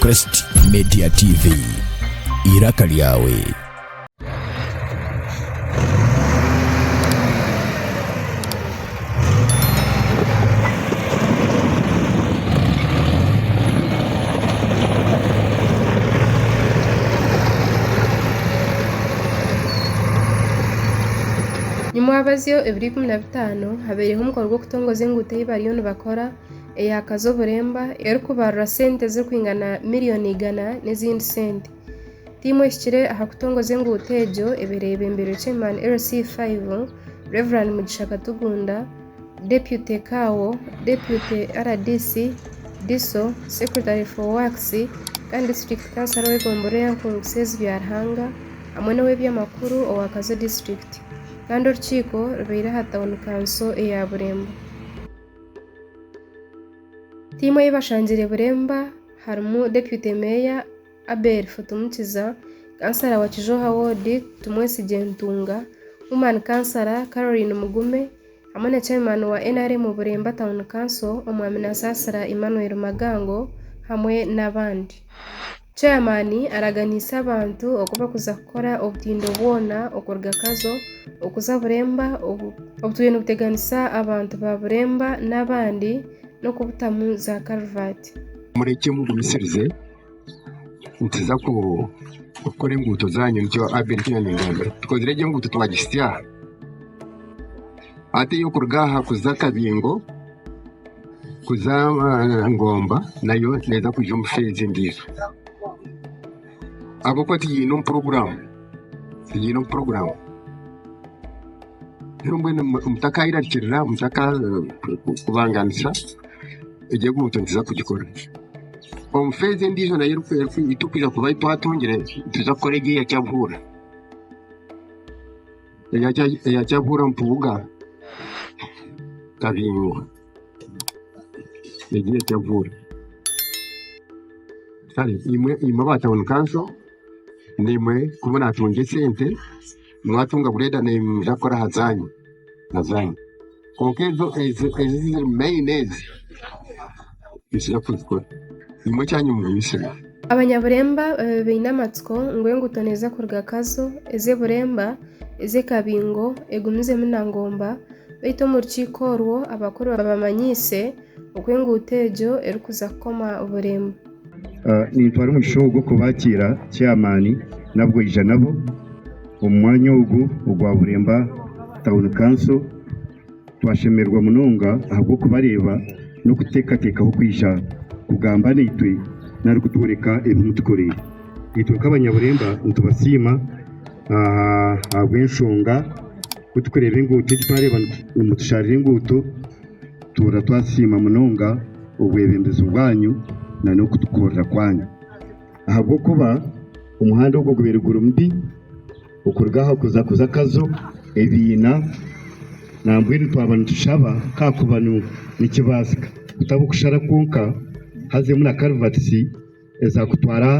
Crest Media TV. Iraka lyawe. Nimwabazyo ebiro ikumi na bitaano. Katindo habaireho omukoro gw'okutongoza enguuto ei bariyo nibakora eyakaza oburemba erikubarura sente ezirikwingana miriyoni igana n'ezindi sente. Tiimu ehikire aha kutongoza enguuto egyo ebaire eyebembirwe Chairman LC iv, Rev. Mugisha Katugunda, Deputy Kaawo, Deputy rdc, DISO, Secretary for Works kandi District Councillor w'egombolola eya Nkungu Sezi Byaruhanga hamwe n'ow'ebyamakuru owa Kazo District. kandi orukiiko rubaire aha tauni kanso eya Burembo. Tiimu ei bashangire Buremba harimu Deputy Meeya Abel Futumukiza, Kansara wa Kizhooha Ward Tumwesigye Ntunga, Woman Kansara Caroline Mugume hamwe na Chairman wa nrm Buremba Town Council Omwami Nasasira Emmanuel Magango hamwe n'abandi. Chairman araganiise abantu oku barikuza kukora obutindo bwona okuruga Kazo okuza Buremba obu turiyo nituteganisa abantu ba Buremba n'abandi n'okubutamu za karivaati. Murekye mugumisirize nituza kukora enguuto zaanyu nikyo Abel ku yaaningambira. Tukozire egyo enguuto twagitsya hati ey'okuruga aha kuza Kabingo. kuza ngomba nayo neeza kwija omu shi egi endiijo. Ahabw'okuba tigiine omu puroguraamu, tigiine omu puroguraamu. Reero mbwenu mutakairarikirira, mutakakubanganisa, egyo enguuto nituza kugikora. Omu shi egi endiijo nayo eriku eriku ei turikwija kuba twatungire, nituza kukora egi eya Kyaruhura. eyakyabuura mpuuga kabingwa egyo eyakyabuura kare imwe aba town council nimwe kuba natungya esente mwatunga bureda nimwija kukora aha zanyu. Kwonka ezo eziri meyini ezi nitubaasa kuzikora. Nimwo ekyanya omugumisirwe. Abanyaburemba babe baine amatsiko ngu enguuto neeza kuruga Kazo, eze Buremba, eze Kabingo, egumizemu na Ngomba, beitu omu rukiiko orwo abakuru babamanyiise oku enguuto egyo erikuza kukoma Buremba. Nintwara omugisha ogu kubakiira chairman nabwo aija nabo omu mwanya ogu ogwa Buremba Town Council. Twashemererwa munonga ahabw'okubareeba n'okutekatekaho kwija kugamba naitwe nari kutworeka ebi mutukoreire. Itwe nk'abanyaburemba nitubasiima ahabw'enshonga ku turikureeba enguuto egi twareeba nimutusharira enguuto. Tuura twasiima munonga obwebembezi bwanyu na n'okutukorera kwanyu. Ahabw'okuba omuhanda ogwo gubaire guri mubi okuruga aha kuza kuza akazo, ebiina, nambwenu twaba nitushaba kakuba nikibaasika kutaba okushara kwonka hazemu na karivatisi. Eza kutwara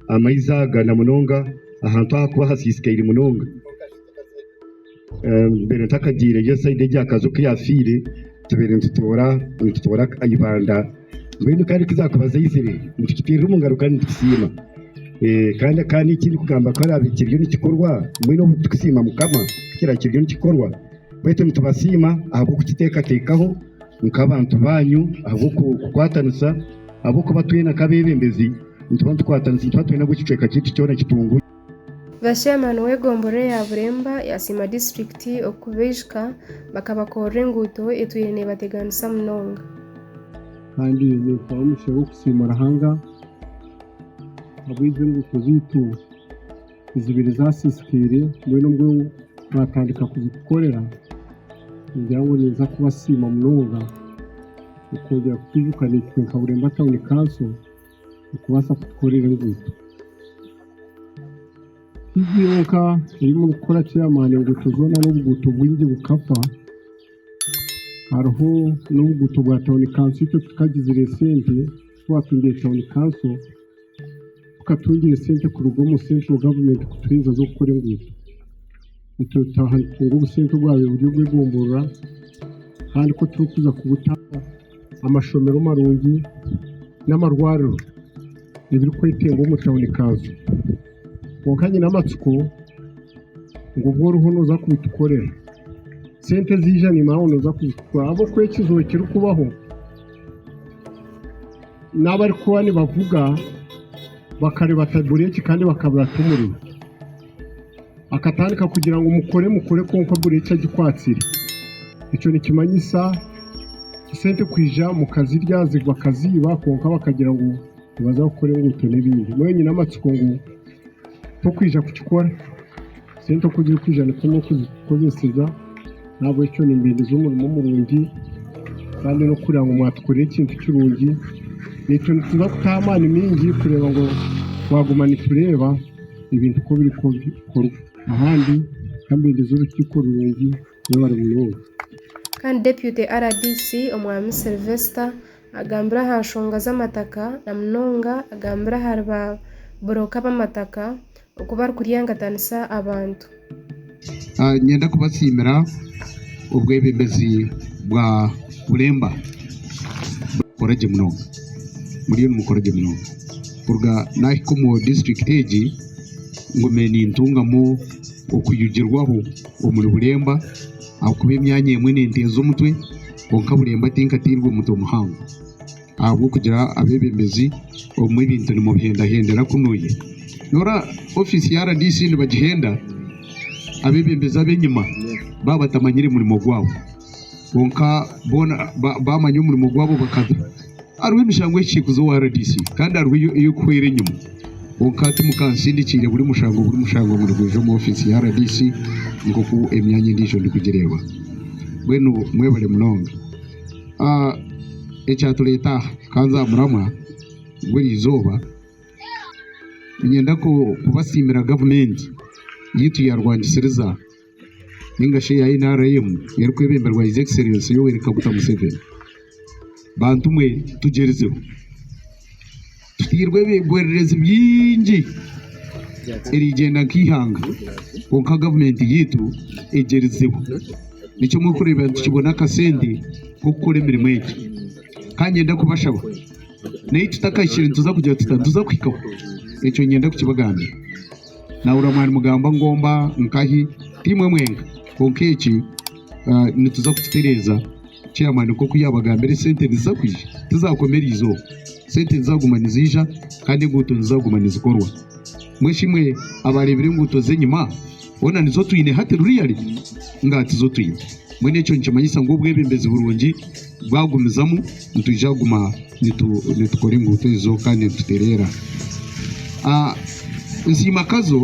amaizi aga na munonga ahantu ahakuba hasiisikaire munonga. Mbaire ntakagiire gye sayidi egi aha kaju oku yaafiire, tubaire nitutoora nitutoora eibanda. Mbwenu kandi ku zaakuba zaizire nitukiteerera omu ngaro kandi nitukisiima. Kandi kandi eki ndikugamba ku araabe kiriyo nikikorwa, mbwenu obu turikusiima Mukama ku kiraabe kiriyo nikikorwa. Baitu nitubasiima ahabw'okukiteekateekaho nk'abantu baanyu ahabw'okukwatanisa. Ahabw'okuba twena nk'abeebembezi nituba nitukwatanisa, nituba twena ngu ekicweka kyaitu kyona kitungurwe. Ba chairman w'egombolola ya Buremba yasiima district okubaijuka bakabakorera enguuto etwire nebateganisa munonga. Kandi ninkuha omugisha gw'okusiima Ruhanga ahabw'ezi enguuto zaitu. ezibire zasiisikaire mbwenu obwo twatandika kuzikukorera ningira ngu ninza kubasiima munonga okwongera kutwijuka naitwe nka Bureemba Town Council okubaasa kutukorera enguuto. Tiibyo yonka ei murikukora chairman enguuto zoona n'obuguuto bwingi bukafa hariho n'obuguuto bwa town council itwe tukagizaire sente twatungire town council. Kukatungire sente kuruga omu central government kutuhweza z'okukora enguuto. Itwe tutaha nitutunga obusente obwabaire buri obw'egomborora kandi ku turikuza kubuta amashomero marungi n'amarwariro ebirikwetenga omu town kanso. Kwonka nyine amatsiko ngu obu oriho noza kubitukorera sente ziija nimanya ngu noza kuzitukorera ahabw'okuba ekizibu ekirikubaho, n'abarikuba nibavuga bakareeba taiburi egi kandi bakabura ati omuriro. Akatandika kugira ngu mukore mukore kwonka buri eki agikwatsire. Ekyo nikimanyisa esente kwija mukazirya zigwa kaziiba kwonka bakagira ngu... Nibaza kukora enguuto n'ebindi. Mbwenu nyine amatsiko ngu tokwija kukikora. Sente oku ziri kwija nikwo n'okuzikozeseza. N'ahabw'ekyo nimbendeza omurimo murungi kandi n'okureeba ngu mwatukorera ekintu kirungi. Naitwe nituza kutaho amaani maingi kureeba ngu twaguma nitureeba ebintu oku biri kukorwa ahandi. Ka mbendeze orukiiko rurungi. Mwebare munonga. Kandi Deputy rdc Omwaami Sylvester Agambire aha nshonga z'amataka na munonga agambire ahari ba buroka b'amataka oku barikuryangatanisa abantu. Niinyenda kubasiimira obwebembezi bwa Bureemba. Nimukora gye munonga. Muriyo nimukora gye munonga. Kuruga naahika omu disiturikiti egi, ngumire nintungamu okwijugirwaho omuri Bureemba ahabw'okuba emyanya emwe ninteeza omutwe. Kwonka Burembo tinkatairwe omu mutwe muhango ahabw'okugira abeebembezi obumwe ebintu nimubihendahendera kunuuya noora ofiisi ya rdc nibagihenda abeebembezi ab'enyima baabatamanyire murimo gwabo kwonka boona baamanya omurimo gwabo bakada. Hariho emishango y'ekiikuzo owa rdc kandi hariho ey'okuhwera enyima. Kwonka hati mukansindikiire buri mushango buri mushango ngu nigwija omu ofiisi ya rdc nk'oku emyanya endiijo ndikugireeba. Mbwenu mwebare munonga. Ah, ekyatureeta aha, kanze aha muramwa gw'erizooba, niinyenda kubasiimira gavumenti yaitu yaarwangisiriza. ninga shi eya NRM erikwebemberwa His Excellency Yoweri Kaguta Museveni. Bantu mwe tugyerizeho. Tutairwe ebigwererezi bingi erigyenda nk'eihanga kwonka gavumenti yaitu egyerizeho. Nikyo murikureeba nitukibona akasente k'okukora emirimo egi. Ka ngyende kubashaba naitwe tutakahikire nituza kugira tuta? Nituza kuhikaho. Ekyo ngyenda kukibagambira. nabura mwari mugamba ngomba nkahi timwe mwenka kwonka eki nituza kukitereza chairman nkoku yabagambire sente niziza kwija tizakoma erizooba sente nizaguma nizija Kandi enguuto nizaguma nizikorwa mweshimwe abarebire enguuto zenyima boona nizo twine hati ruriyari ngatizotwine mbwenu ekyo nikimanyisa ngu obwebembezi burungi Bwagumizamu nitwija kuguma nitukora enguuto ezo kandi nitutereera. Nsiimakazo,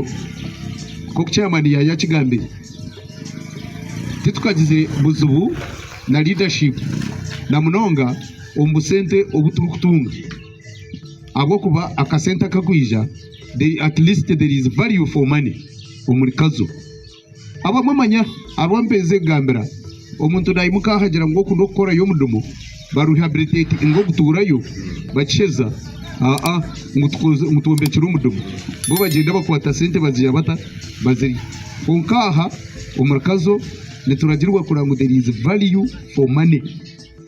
nk'oku chairman yaaya akigambire, titukagize buzibu na leadership na munonga omu busente obu turikutunga ahabw'okuba akasente akakwija, at least there is value for money omuri Kazo. Abamwe manya abu mperize kugambira, omuntu nayimuka ahagira ngu oku n'okukorayo omudumo ba rehabilitate inga oguturayo bakisheza aa ngu tukoze ngu twombekire omudumo bo bagyenda bakwata sente baziha bata bazirye kwonka aha omuri kazo nituragirwa kureba ngu there is value for money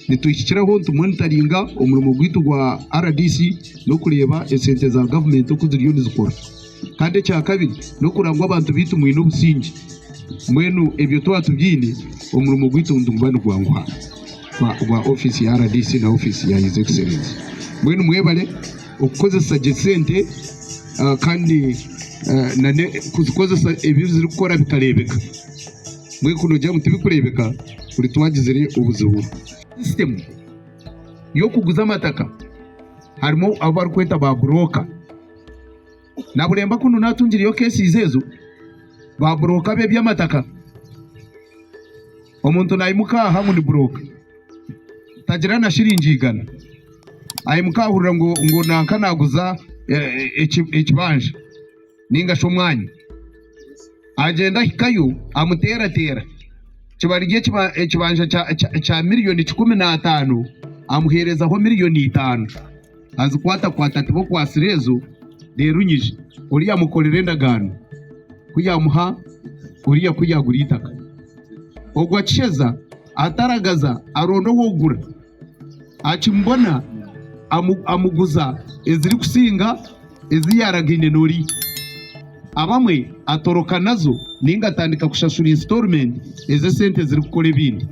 nitwihikiraho ntu monitoringa omurimo gwitu gwa rdc n'okureba esente za gavumenti oku ziriyo nizikora. Kandi ekya kabiri n'okuranga ngu abantu baitu mwine obusingye. Mbwenu ebyo twaba tubyine, omurimo gwaitu niguba nigwanguha gwa ofiisi ya RDC na ofiisi ya His Excellency. Mbwenu mwebare okukozesa gye sente ah, kandi ah, nane kuzikozesa ebi zirikukora bikareebeka. Mbwenu kunoogira ngu tibikureebeka buri twagizire obuzibu. Sisitemu y'okuguza amataka harimu abu barikweta ba burooka. Nabulemba kunu natungireyo kesizi ezo ba broka be byamataka omuntu nayimuka aha ngu ni broka tagira na shilingi igana ayimuka ahurira ngu ngu nanka naguza ekibanja ninga shi omwanya agyenda ahikayo amuteratera kibarire ekibanja kya million kikumi na tano amuherezaho million itano. azikwatakwata ati b'okwatsire ezo neerunyija, Ori yaamukorera endagaano ku yaamuha oriya ku yaagura eitaka. Ogwo akisheza ataragaza aronda ow'okugura, akimubona amu, amuguza ezirikusinga ezi yaaragaine n'oriya. Abamwe atoroka nazo nainga atandika kushashura insitoorumenti ez'esente ezirikukora ebindi.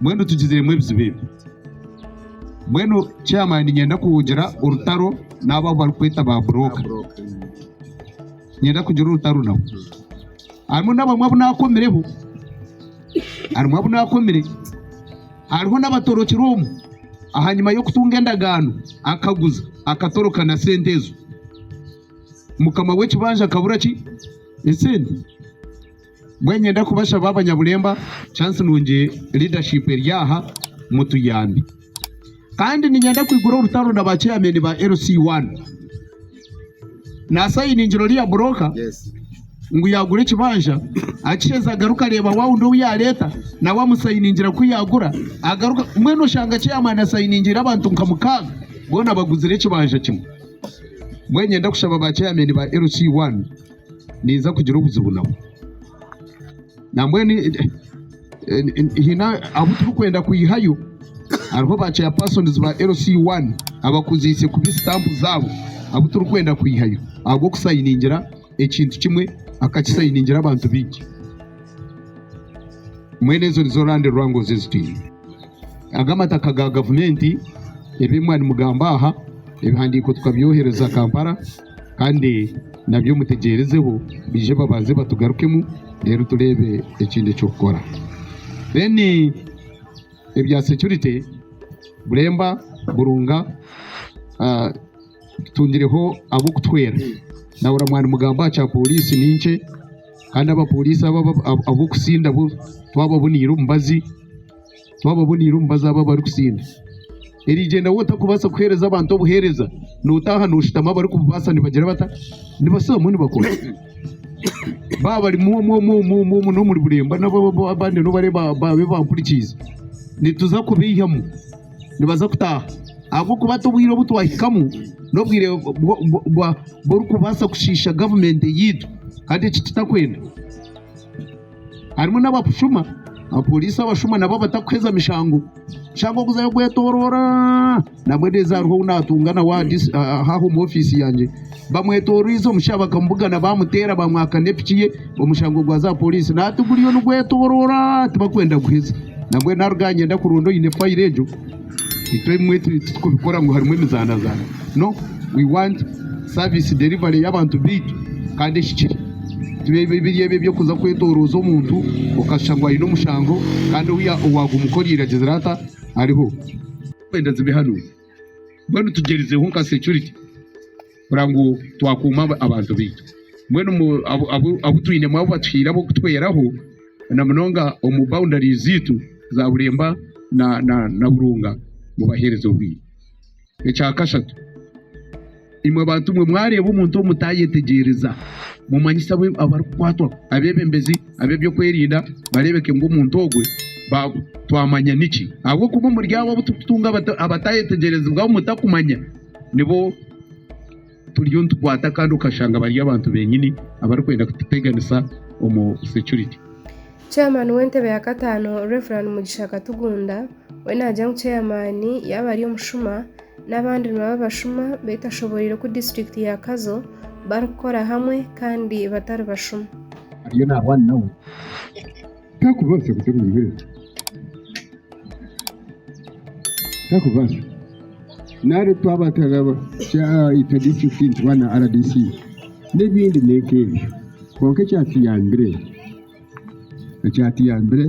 Mbwenu tugiziremu ebizibu ebi. Mbwenu chairman niinyenda kugira orutaro n'abo abu barikweta ba broka. Niinyenda kugira orutaro nabo. Harimu n'abamwe abu naakomireho. Harimu abu naakomire. Hariho n'abatorokire omu. Ahanyima y'okutunga endagaano, akaguza, akatoroka na sente ezo. Mukama w'ekibanja akabura ki? Esente. Mbwenu niinyenda kubashaba abanyaburemba, chance nungi leadership eri aha, mutuyambe. Kandi niinyenda kwigura orutaro na ba chairman ba LC1. Naasayiningira oriya broker ngu yaagura ekibanja, akisheza agaruka areeba wa wundi ou yaareeta nawe amusayiningira ku yaagura agaruka. Mbwenu oshanga chairman asayiningiire abantu nka mukaaga boona baguzire ekibanja kimwe. Mbwenu niinyenda kushaba ba chairman ba LC1. ninza kugira obuzibu nabo. Nambwenu haine abu turikwenda kwihayo, hariho ba chairpersons ba LC I abakuziise kubi stamp zaabo abu turikwenda kwihayo ahabw'okusayiningira ekintu kimwe akakisayiningira abantu baingi. Mbwenu ezo nizo land wrangles ezi twine. Aga amataka ga gavumenti, ebi mwaba nimugamba aha, ebihandiiko tukabyohereza Kampala. Kandi nabyo mutegyerezeho baije babanze batugarukemu reero tureebe ekindi eky'okukora. Then ebya security Buremba, Burunga tutungireho ab'okutuhwera. Naahurira mwanimugamba aha kya poriisi ni nkye kandi aba poriisi abo ab'okusinda twababoniire omubazi. twaba aboniire omubazi abo abarikusinda. Eriigyenda waaba otarikubaasa kuheereza abantu obuheereza, nootaaha nooshutama abarikububaasa nibagira bata? Nibashutambamu nibakora. Baaba barimu omwo omwo omwo omwo omwo n'omuri burembo nabo abandi abandi n'obu bari ba- baabe bampurikiize, nituza kubaihamu nibaza kutaaha. Ahabw'okuba hati obwire obu twahikamu n'obwire bwo- bwo- bwo- bwa- bw'orikubaasa kushiisha gavumenti eyaitu kandi eki tutakwenda. Harimu n'abakushuma, abapooriisi abashuma nabo abatakuheza mishango shangwa kuza kugwetoroora. Nabwegyezi hariho ou naatunga nawe aha disi- aha- aha omu ofiisi yangye. Bamwetoroize omusha bakamubuga na baamuteera baamwaka n'epiki ye, omushango gwa zaapooriisi naati guriyo nigwetoroora tibakwenda kuguheza. Nambwenu naruga aha nyenda kuronda oine fayiro egyo Itwe ebimwe titurikubikora ngu harimu emizaanazaana. No, we want service delivery y'abantu baitu kandi ehikire. Tibibe biri ebyo eby'okuza kwetorooza omuntu okashusha ngu aine omushango kandi ou ya- owaaguma oku oryaire agizire ata ariho. Turikwenda zibe hanu. Mbwenu tugyerizeho nka security. kureba ngu twakuuma abantu baitu. Mbwenu abu twinemu abu batuhaire ab'okutweraho na munonga omu boundaries zaitu za Bureemba na Burunga mubaheereze obwire. Ekya kashatu, imwe bantu mwe mwareeba omuntu ou mutaayetegyereza mumanyisa abu arikukwatwa, abeebembezi ab'eby'okwerinda bareebeke ngu omuntu ogwe twamanya niki ahabw'okuba omuri abo abu turikutunga abataayetegyereziibwaho mutakumanya nibo. turiyo nitukwata kandi okashanga bari abantu benyini abarikwenda kututeganisa omu security. Chairman w'entebe ya kataano Rev Mugisha Katugunda we nagya ngu chairman yaaba ari omushuma n'abandi nibaba abashuma beitashoboreire ku district ya Kazo barikukora hamwe kandi batari bashuma. Ariyo nahwana nawe. Takubaasa kuteera omubiri, takubaasa. Nari twaba turaba itwe disiturikiti nituba na RDC n'ebindi ni nk'ebyo. Kwonka ekyatuyambire, ekyatuyambire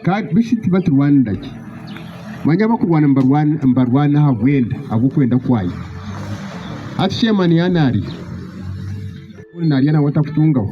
kandi beitu tituba niturwanira gye. Manya abakurwana nibarwana nibarwana ahabwenda ahabw'okwenda kwayo. Hati chairman yaaba naarya, ogu naarya naawe atakutungaho.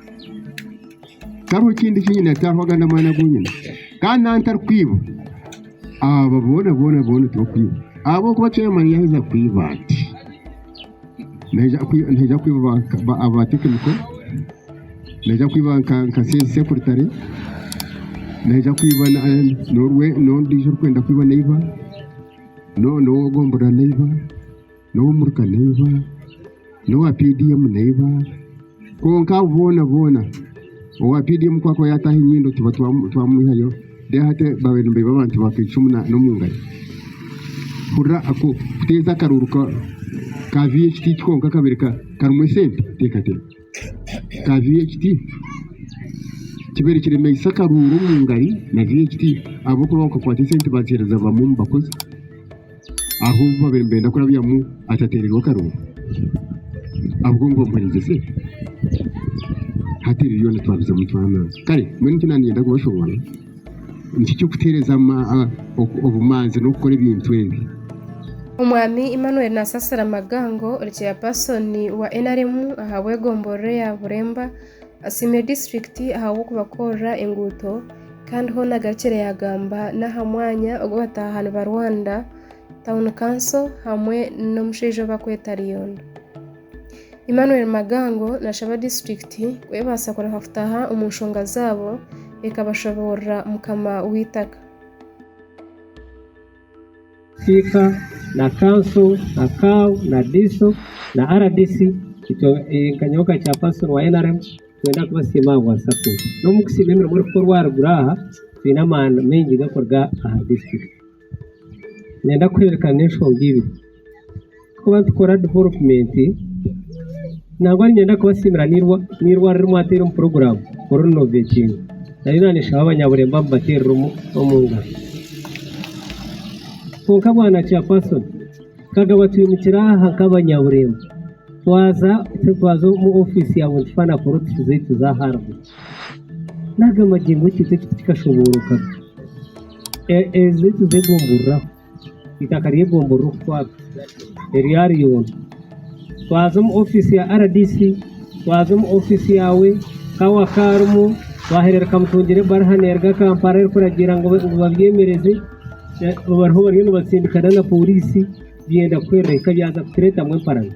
Tihariho kindi eki nyine ataaho agandi amaani agu nyine. Kandi nanye ntarikwiba. Abo boona boona boona tibakwiba. Ahabw'okuba chairman yaaheza kwiba ati, naija kwi- naija kwiba ba- ba- aba tekiniko, naija kwiba nka nka se- sekuritare, naija kwiba na- eh, n'orwe- n'ondiijo orikwenda kwiba neiba, no- n'ow'ogombora neiba. N'owa muruka naiba, n'owa PDM naiba, kwonka abo boona boona owa PDM ku akuba yaataaha enyindo tuba twamwihayo, reero hati baabaire nibaiba abantu ba Kaicumu n'omu ngari. Hurira kuteeza akaruuru ka VHT eki konka akabaire karimu esente? Teekateeka. Ka VHT kibaire kiremeisa akaruuru omu ngari na VHT ahabw'okuba bakakwata esente baaziheereza bamwe omu bakozi. ahu baabaire nibenda kurabyamu atateererwe akarooro ahabw'okuba ngu bamuhuriize. Hati ebyo byona twabizamu twaanura. Kare mbwenu eki naaniinyenda kubashoboorora nikyo ky'okuteereza obumanzi n'okukora ebintu ebi. Omwami Emmanuel Nasasira Magango ori Chairperson wa nrm aha bwegomborero ya Buremba, Asiimire disiturikiti ahabw'okubakorera enguuto kandi hoona agarukire yaagamba n'aha mwanya ogu bataahani ba Rwanda Town Council hamwe n'omushaija ou barikweta Rion. Emmanuel Magango naashaba disiturikiti ku ebaasa kureka kutaaha omu nshonga zaabo ekabashoboorora mukama w'eitaka. Siika na kanso na kau na diso na rdc itwe nka nyowe nka chairperson wa nrm nitwenda kubasiima aha bwa support n'omu kusiima emirimo erikukorwa aharuguru aha twine amaani maingi garikuruga aha district niinyenda kuhererekana n'enshonga ibiri. kuba nitukora divolopumenti nangwa niinyenda kubasiimira n'eirwariro eri mwateera omu puroguraamu oru rinovekinga naayo naaneshaba abanyaburemba mubateerere omu ngaro. Kwonka bwana kyapasoni twagamba twimukire aha nk'abanyaburemba twaza twaza omu ofiisi yaawe nitufa na porodusi zaitu za haribo naaga magingo ekyo tikikashobooroka ezaitu z'egumbururaho. eitaka ry'egombolola okutwarwa erya Ryondo. Twaza omu ofiisi ya rdc, twaza omu ofiisi yaawe ka wakaarimu twaheerera Kamutungira ebariha neeruga Kampala erikuragira ngu babyemereze bariho bariyo nibatsindika nana pooriisi byenda kuhwerera hika byaza kutureetamu emparazo.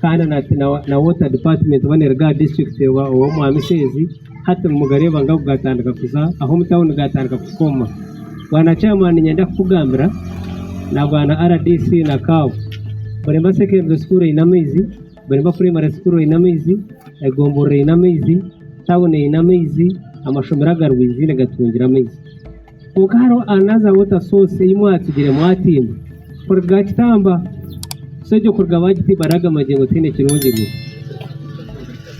kandi na water department oba ne Rugaa district oba omwami Sheezi hati mugareeba ngu agu gatandika kuza ah'omu tawuni gatandika kukoma. Bwana chairman niinyenda kukugambira na bwana RDC na CAO buri mba secondary school eine amaizi, buri mba primary school eine amaizi, egomborora eine amaizi, tawuni eine amaizi, amashomero agarwiizi nigatungira amaizi. Kwonka hariho another water source ei mwatsigire mwatimba kuruga aha kitamba. So egyo kuruga baagitiimba hariho ago amagyengo tihaine kirungi.